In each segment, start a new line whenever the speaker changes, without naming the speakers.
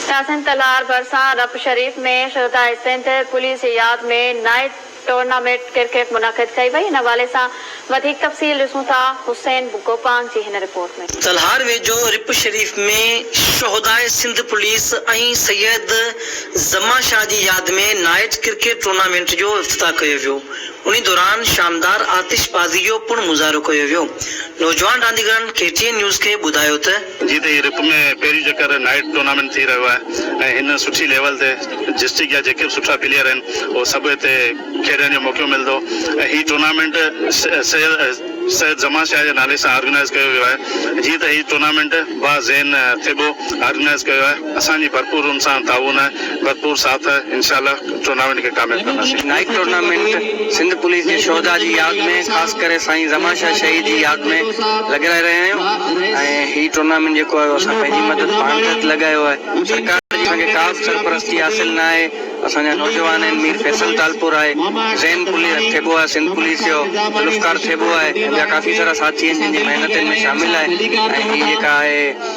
تحسين تلار ڀرسان رپ شريف ۾ شھداء سنڌ پوليس جي ياد ۾ نائيٽ ٽورناميٽ ڪرڪيٽ منعقد ڪئي وئي ان حوالي سان وڌيڪ تفصيل ڏسون ٿا حسين گوپانگ جي هن رپورٽ ۾. تلهار ويجهو
رپ شريف ۾ شهداء سنڌ پوليس ۽ سيد زمان شاهه جي ياد ۾ نائٽ ڪرڪيٽ ٽورنامينٽ جو افتتاح ڪيو ويو انهي دوران شاندار آتش بازي جو پڻ مظاهرو ڪيو ويو نوجوان رانديگرن ڪي ٽي اين نيوز کي ٻڌايو ته جيئن ته هي رپ ۾
پهريون چڪر نائيٽ ٽورنامينٽ ٿي رهيو آهي ۽ هن سٺي ليول تي ڊسٽرڪٽ جا جيڪي به سٺا پليئر آهن اهي سڀ هتي کيڏڻ جو موقعو ملندو ۽ هي ٽورنامينٽ سيد سيد زمان شاهه جي نالي سان آرگنائيز ڪيو ويو آهي جيئن ته هي ٽورنامينٽ با زين ٿيٻو آرگنائيز ڪيو آهي. اسان جي ڀرپور ان سان تعاون آهي ڀرپور ساٿ آهي انشاء الله ٽورنامينٽ کي ڪامياب ڪنداسين. نائيڪ ٽورنامينٽ
سنڌ پوليس جي شهدا جي ياد ۾ خاص ڪري سائين زمان شاهه شهيد جي ياد ۾ لڳرائي رهيا آهيون ۽ هي ٽورنامينٽ جيڪو آهي اهو اسان پنهنجي مدد پاڻ تحت لڳايو آهي سرڪار جي اسان کي ڪا به سرپرستي حاصل نه آهي اسان جا نوجوان آهن مير فيصل تالپور آهي زين پوليس ٿيٻو آهي سنڌ پوليس جو ذوالفقار ٿيٻو آهي ۽ ٻيا ڪافي سارا ساٿي آهن جن جي محنتن ۾ شامل آهي ۽ هي جيڪا آهي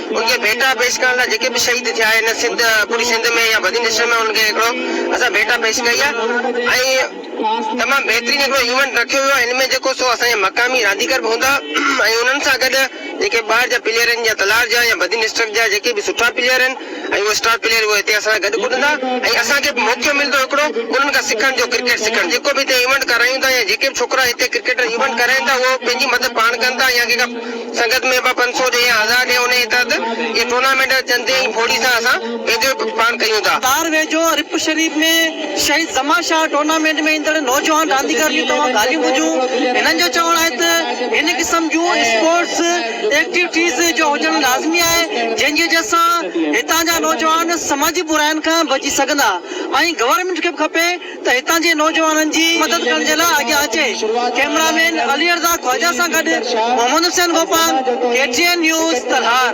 ان کي ڀيٽا پيش ڪرڻ لاء جيڪي به شهيد ٿيا آهن سنڌ پوري سنڌ ۾ يا بدين ڊسٽرڪٽ ۾ انهن کي هڪڙو اسان ڀيٽا پيش ڪئي آهي ۽ تمام بهترين هڪڙو ايونٽ رکيو ويو آهي هن ۾ جيڪو سو اسان جا مقامي رانديگر به هوندا ۽ انهن سان گڏ جيڪي ٻاهر جا پليئر آهن جيئن تلار جا يا بدين ڊسٽرڪٽ جا جيڪي به سٺا پليئر آهن ۽ اهي اسٽار پليئر اهي هتي اسان سان گڏ ڪڏندا ۽ اسان کي به موقعو ملندو هڪڙو انهن کان سکڻ جو ڪرڪيٽ سکڻ جيڪو به هتي ايونٽ ڪرايون ٿا يا جيڪي به ڇوڪرا هتي ڪرڪيٽ ايونٽ ڪرائين ٿا اهو پنهنجي مدد پاڻ ڪن ٿا يا ڪنهن کان سنگت ۾ به پنج سؤ ڏي يا هزار ڏي انهيء تحت اهي ٽورنامينٽ چندي ۽ ڦوڙي سان اسان ويجهو پاڻ ڪيون ٿا. تار ويجهو رپ
شريف ۾ شهيد زمان شاهه ٽورنامينٽ ۾ ايندڙ نوجوان رانديگر جون توهان ڳالهيون ٻڌيون. هنن جو چوڻ آهي ته هن قسم جون اسپورٽس ايڪٽيوٽيز جو هجڻ لازمي آهي جنهن جي وجهه سان هتان جا نوجوان سماجي براين کان بچي سگهندا ۽ گورنمينٽ کي به کپي ته هتان جي نوجوانن جي مدد ڪرڻ جي لاء اڳيان اچي ڪئميرا مين عليرضا خواجه سان گڏ Muhammad Hussain Gopang, K T N news, Talhar.